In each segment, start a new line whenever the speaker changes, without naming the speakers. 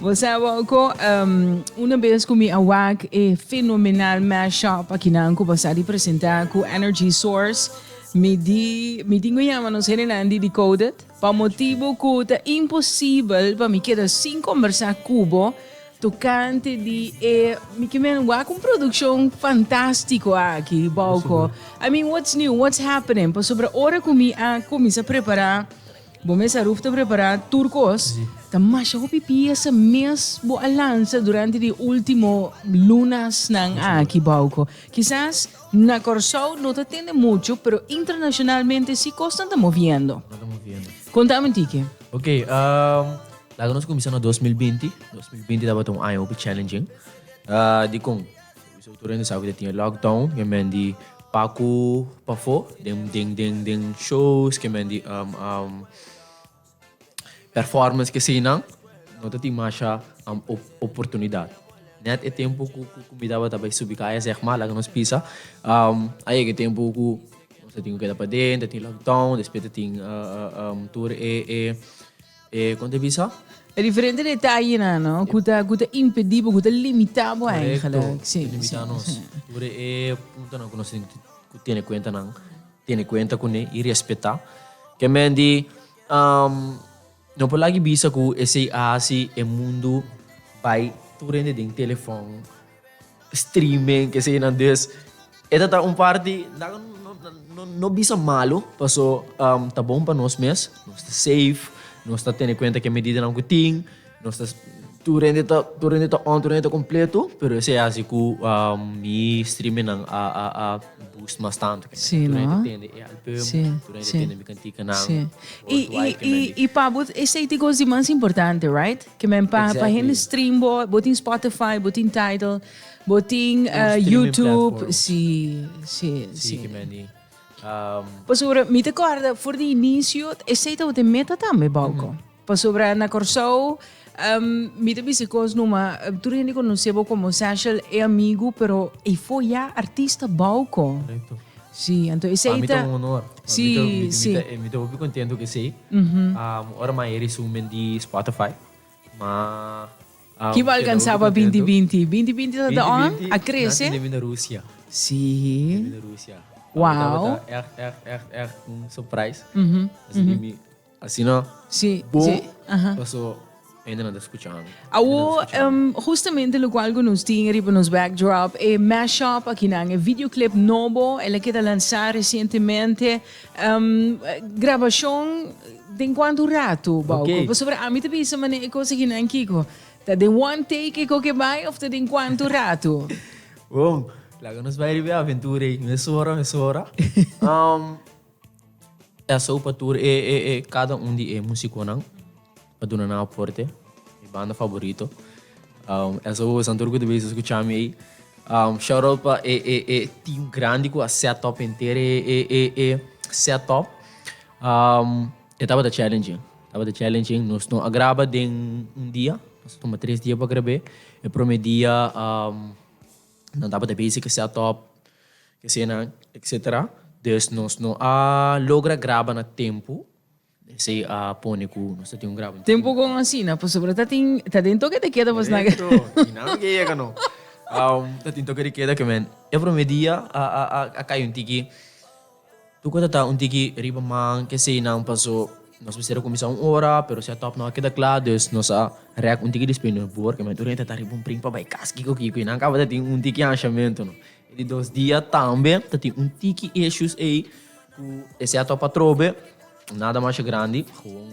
Bo sa bo
cu una bes cu mi a wak e fenomenal mashup akinan cu bo sa di presenta cu Energy Source, mi di, mi tin cu yama nos henenan di Decoded pa motibo cu ta imposibel pa mi keda sin combersa cu bo tocante di e, mi ke men wak un produccion fantastico aki, Bauco. I mean, what's new, what's happening? Pasobra ora cu mi a cuminsa prepara Bo mes a ruf ta prepará tur kos, ta masha hopi piesa mes bo a lansa durante di último lunasnan aki bouco. Kisas na Kòrsou no ta tende muchu, pero internashonalmente sí kosnan ta moviendo. Kon ta Mantique? Ok,
laga nos kuminsá na dos mil binti. Dos mil binti tabata un aña hopi challenging. Dikon? Mis autoridad no sa cu ta tin e lockdown y men di pacu pafo den shows ki men di performance ki asinan no ta tin masha oportunidad net e tempo cu mi tabata bay subi caya zegma laga nos pisa a yega e tempo cu nos ta tin cu keda paden ta tin lockdown despues ta tin tur e. E konta e bisa? E diferente
detayenan no ku ta ku ta impedí bo, ku ta limitá bo eigenlijk. Si, si. Korekto, ta limitá nos.
Tur e puntonan ku nos tin ku tene kuenta nan, tene kuenta kuné i respetá. Ke men di no por lag'e bisa ku esei a hasi e mundu bai tur hende den telefòn. streaming keseyinan dus e ta ta un parti no bisa malu paso ta bon pa nos mes nos ta safe nos ta tene kuenta ke medidanan ku tin nos ta tur hende ta tur hende ta on tur hende ta kompletu pero esei a hasi ku mi streamingnan a a a boost mas tantu tur hende ta tende e
album tur
hende ta tende mi kantikanan worldwide
kemen di. I pa bo esei ta e kos di mas importante right Ke men pa pa hende stream bo, bo tin Spotify, bo tin Tidal, bo tin YouTube, si si si ke
men di.
Pasobra mi ta kòrda for di inicio esei tabata e meta tambe Bauco. Pasobra na Kòrsou mi ta bisa kos numa tur hende konosebo komo Sashel e amigu pero ey for ya artista Bauco. Sí,
anto esei
ta. Pa mi ta un honor.
Sí, sí.
Mi ta hopi
contento cu esei. Ora mas e resumen den di Spotify, ma. Ki bo
alcansa pa binti binti? Binti binti ta ta on? A crece? Nan tin den bina Rusia.
Sí. Nan tin den
bina Rusia.
Wow. Tabata
echt echt echt
echt un surprise. Así que mi. Asina bo paso hende nan ta scucha ami. Awor
justamente locual cu nos tin riba nos backdrop e mashup akinan, e videoclip nobo, el a keda lansa recientemente. Grabacion den cuantu rato, Bauco? Pasobra ami ta bisa
manera
e cos akinan, Kiko, ta den one take e coc e bay of ta den cuantu rato? Bon,
laga nos bay riba e aventura ey, mesora, mesora. Esou pa tur e e e cada un di e musiconan pa duna nan aporte, mi banda favorito. Um, esou bo santur cu te bezi escucha mi ei. Um, shout out pa e e e team grandi cu a set up enter e e e e set up. Um, e tabata challenging, tabata challenging. Nos no a graba den un dia, nos a tuma tres dia pa grabé. E prome dia um. Nan tabata bezi ke set up kesenan etcetera des nos no a logra graba na tempu esei a pone ku nos ta tin un graba entero. Tempu kon asina
pasobra ta tin ta den toke de keda pues nan ke. Korekto i nan lo ke yega
no ta tin toke de keda ke men e prome dia a a a kai un tiki. Tur kos a ta un tiki riba man, kesei nan paso nos mester a kuminsá un ora, pero si a tòp no a keda kla, dus nos a rèk un tiki di spei nos bor, kementi oriente a ta riba un pring pa bai kas kiko kiko i nan kaba ta tin un tiki anshamentu no. E di dos dia tambe ta tin un tiki issues ei ku esei a tòp atrobe, nada masha grandi, gewoon.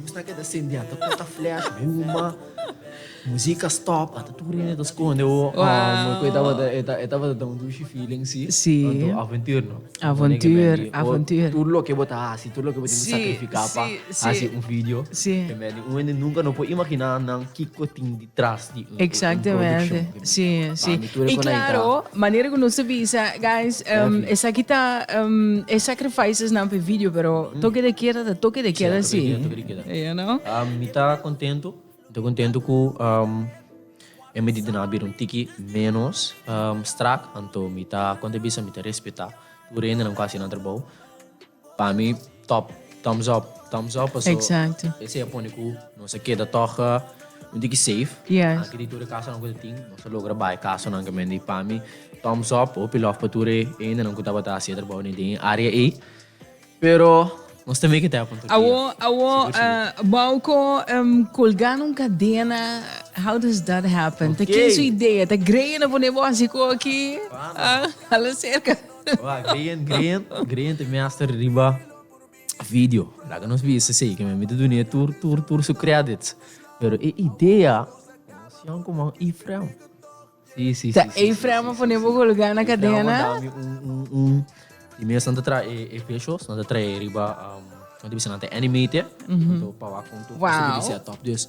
Lus ta keda sendia, ta kota flash, huma, musika stop, ata tur niño ta skonde. Oh, wow. E tabata, e tabata da un dushi feeling, si. Si. Tanto
avontuur, no?
Avontuur, avontuur.
Tur loke bo ta
hasi, tur loke bo tin sakrifika pa hasi un video. Si, si. Te beni. Un hende nunka no por imaginá nan kiko tin. tras di un
produccion di mingua. Ora mi tur e cona ita. Claro, manera cu nos ta bisa, guys, esaki ta e sacrifices nan p'e video, pero toke de keda ta toke de keda si. Sia, toke de keda ta toke de keda si. You know? Mi ta contento,
mi ta contento cu e medidanan a bira un tiki menos strak, anto mi ta, con ta bisa, mi ta respeta tur hendenan cu a haci nan trabou. Pa mi top thumbs up thumbs up paso Exacto.
esey a pone cu
nos a keda tog un tiki safe Yes. aki di tur e
casanan cu ta
tin nos a logra bay casanan ca men di pa mi thumbs up hopi lof pa tur e hendenan cu tabata haci e trabao den e area ey pero nos ta make it happen tur dia Awo awo Sigur sigur. eh, Bauco
em, colga na un cadena how does that happen? Ta Oké. ken su idea? Ta greje na pone bo hasi coki? Pana. Ah, hala cerca. Wak, Grian, Grian, Grian te mester riba video. Laga nos bisa esei, ke men mi ta duna e tur, tur, tur su credits. Pero e idea, emocion ku man Efraim. Si, si, Ta si, si, Efraim a pone bo golga na Efraim a dami kadena. un, un, un.
Di mes nan ta traha e, e peshos, nan ta traha e riba, um, nan ta bisa nan ta animate e. Nan ta paba kon tur kos a Wow. debe ser top. Dus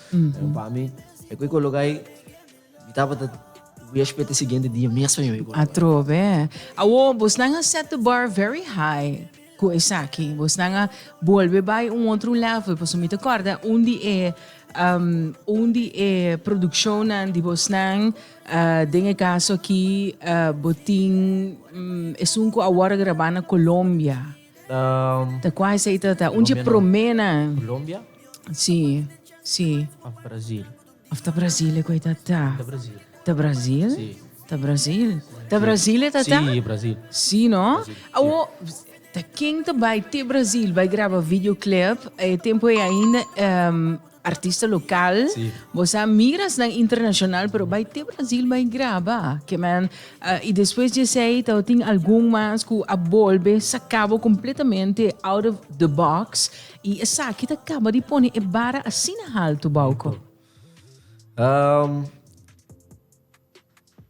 Segun pa mi, e ku e koloka ei, mi tabata huespe ta e siguiente dia mespa mi koloka. Atrobe.
Awor, bosnan a set the bar very high ku esaki. Bosnan a bolbe bai un otro level, pasobra mi ta kòrda un di e un di e produkshonnan di bosnan, den e kaso aki bo tin esun ku awor a grabá na Colombia. Ta kuai sa i ta ta un dje promé na. Colombia?
Sí,
sí. Of
Brasil? Of ta
Brasil e ku e ta ta? Ta Brasil.
Ta Brasil?
Sí. Ta Brasil. Ta Brasil e ta ta? Sí, Brasil. Sí
no? Brasil,
sí. Awo, ta ken ta bai te Brasil bai graba videoclip e tempu ei ainda. Artista local, bo sa miras nan internacional pero bay te Brasil bay graba ke man uh, y despues di esey tao tin algun mas ku a bolbe sakabo completamente out of the box y esaki ta kaba di pone e bara asina halto bauko. Um,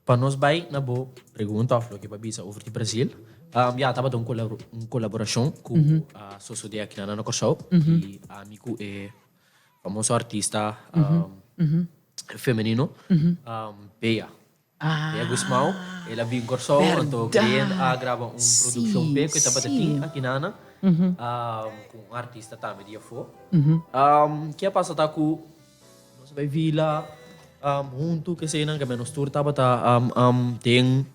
Pa nos bai na bo pregunta of loke bo a bisa over di Brazil, ya tabata un un colaboracion cu a sosode aki na na Corsou, di ami cu e famoso artista femenino Bea, Bea Gusmao, el a bin Corsou anto Green a graba un produccion p'e cu e tabata tin aki na na cu un artista tambe di afo. Ke a pasa ta cu. Nos a bai vila huntu cu esayinan cu nos tur tabata den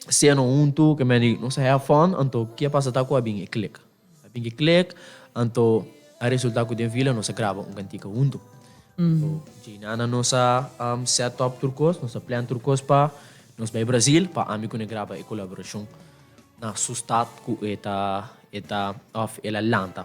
ceno huntu cu medi nos a have fun anto ke a pasa ta cu a bin e click a bin e click anto a resulta cu den vila nos a graba un cantica huntu djey na nan nos a set up tur cos nos a plan tur cos pa nos bai Brazil pa ami cu ne graba e colaboracion na su stad cu eta eta of el a lanta.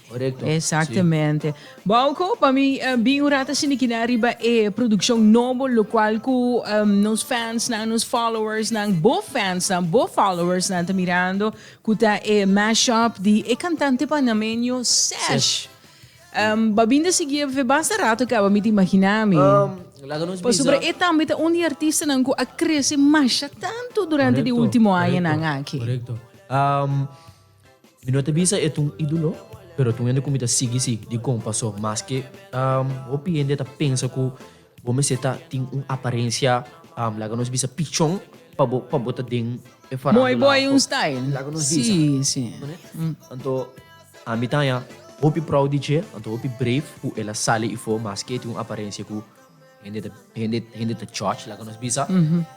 Exactamente.
Bauco, pa mi bin un rata sindi kina riba e produccion nobo locual cu nos fansnan, nos followersnan, bo fansnan, bo followersnan ta mirando, cu ta e mashup di e cantante panameño Sesh. Bo a bin ta sigui ebe fe basta rato caba, mi ta imagina mi. Pasobra e tambe ta un di e artistanan cu a crece masha tanto durante di ultimo añanan aki. Mi no
ta bisa e ta un ídolo, pero ta un hende ku mi ta sigui si di kon pasó. Maske hopi hende ta pensa ku bo mester ta tin un aparensia, laga nos bisa pichon, pa bo pa bo ta den e farándula. Mooi boy un style.
Laga nos bisa. Sí,
sí.
Anto
ami ta haña hopi prou di dje, anto hopi brave ku el a sali ifo maske e tin un aparensia ku. Hende ta hende hende ta judge laga nos bisa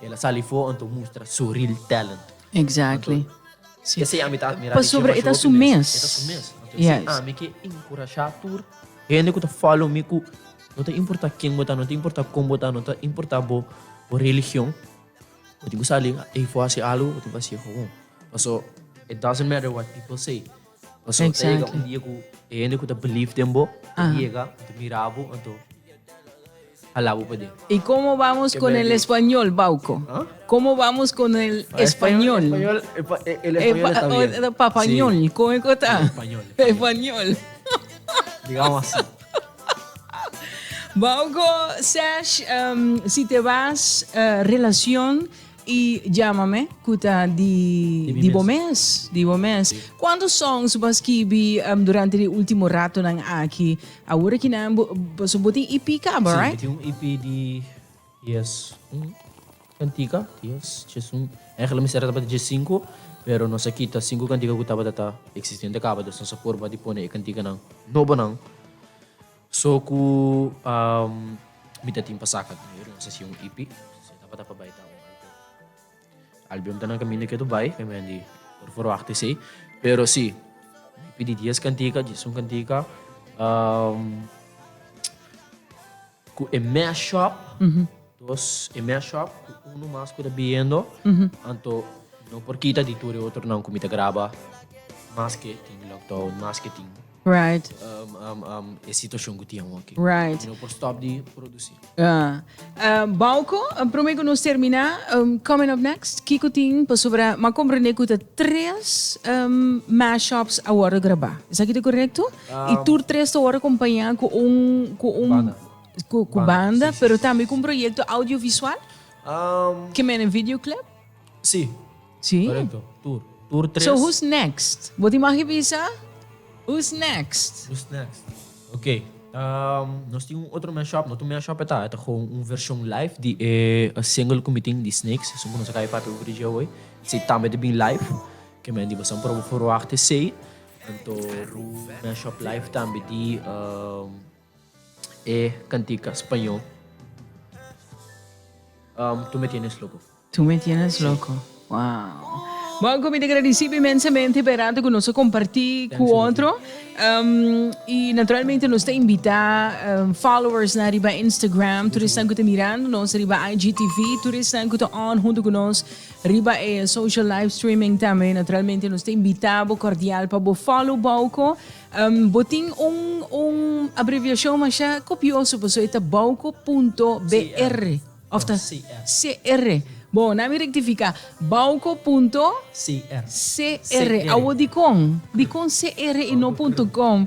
el a sali for anto mustra su real talent. Exactly.
Anto esei
ami ta admira di Chema Show hopi mes. E ta su
mes.
Anto esei ami ke
enkurashá
tur hende ku ta follow mi ku no ta importá ken bo ta no ta importá kon bo ta no ta importá bo bo religion bo tin ku sali ei for hasi algu bo tin ku hasi e gawon paso it doesn't matter what people say. Paso ta yega un dia ku
e hende
ku ta believe den bo ta yega anto mira bo anto hala bo paden. I komo bamos kon
el español Bauco? Komo bamos
kon
el español?
Papañol kon e
ku ta? Pañol.
Digamos asi.
Bauco, Serge, si te bas relacion I jama me ku ta di di bo mes, di bo mes. Kuantu
songs
bo a skibi durante di ultimo ratonan aki? Awor aki nan bo, pasobra bo tin EP kaba, right? Si, mi tin un EP di
dies kantika, dies, dies un, èntlik mi sera tabata dies sinku, pero nos a kita sinku kantika ku tabata ta eksistente kaba, dus nos a porba di pone e kantikanan nobonan. So cu mi ta tin pa saca diñero na sesion EP, si ta pa bay ta un alter. Albion ta na caminda ke ta bay, mi manda di por forwacht esey. Pero si, mi pidi dies cantica, diesun cantica, cu e mashup, Dos e mes shòf ku unu mas ku ta biendo, anto no por kita di tur e otronan ku mi ta graba maske tin lockdown, maske tin e situashon ku tin awor aki. Mi no por stòp
di
produsí.
Bauco, promé ku nos terminá, coming up next, kiko tin pasobra mi a komprendé ku ta tres mes shòfs a wòrdu grabá. Esaki ta korekto? I tur tres ta wòrdu kompañá ku un, ku un. Ku banda, pero tambe ku un proyekto audiovisual? Ke mene videoclip?
Sí, korekto.
Tur.
Tur tres. So who's next?
Bo tin maki bisa? Who's next? Who's next?
Ok. Nos tin un otro mashup, no ta un mashup e ta, e ta gewoon un vershon live di e single ku mi tin di Snakes, esun ku nos a kai papia over di dje oi. Sí, tambe ta bin live. Ke men di Basan Probo Forwacht esei. Anto un mashup live tambe di. E cantica spañol Tu me tienes loco. Tu me tienes
loco. Sí. Wow. Bon, cu mi te agradeci inmensamente pa e rato cu nos a comparti cu otro. Um, y naturalmente nos te invita um, followers na riba Instagram, tur esnan cu te mirando nos riba IGTV, tur esnan cu te on junto cu nos riba e social live streaming también. Naturalmente nos te invita bo cordial pa bo follow bauco Bo tin un un abreviashon masha kopioso pasobra e ta Bauco punto BR òf ta CR. Bon, nan mi rektifiká, Bauco punto CR. Awo dikon? Dikon CR i no punto com?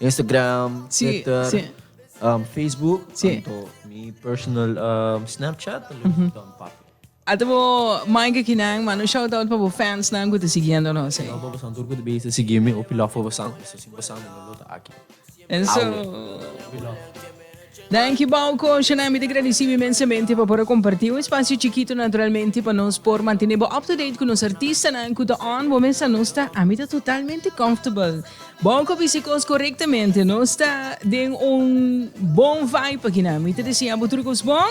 Instagram, Twitter, sí. Um, Facebook, sí. tanto mi personal um, Snapchat, uh -huh. dan papi.
Atabo Mike Kinan, mano shout out para fans nan que te siguiendo no sé. No, vamos a tur que te base
seguirme o pilaf para basan, eso sin basan no lo ta aquí. Eso.
Pilaf. Thank you Bao Kosher Nan mi ta gradicibo inmensamente pa por a comparti un espacio chikito naturalmente pa nos por mantene bo up to date cu nos artista nan cu ta on bo mes a nos ta a mi ta totalmente comfortable Bao cu bici cos corectamente nos ta den un bon vibe aki nan mi ta desea bo tur cos bon.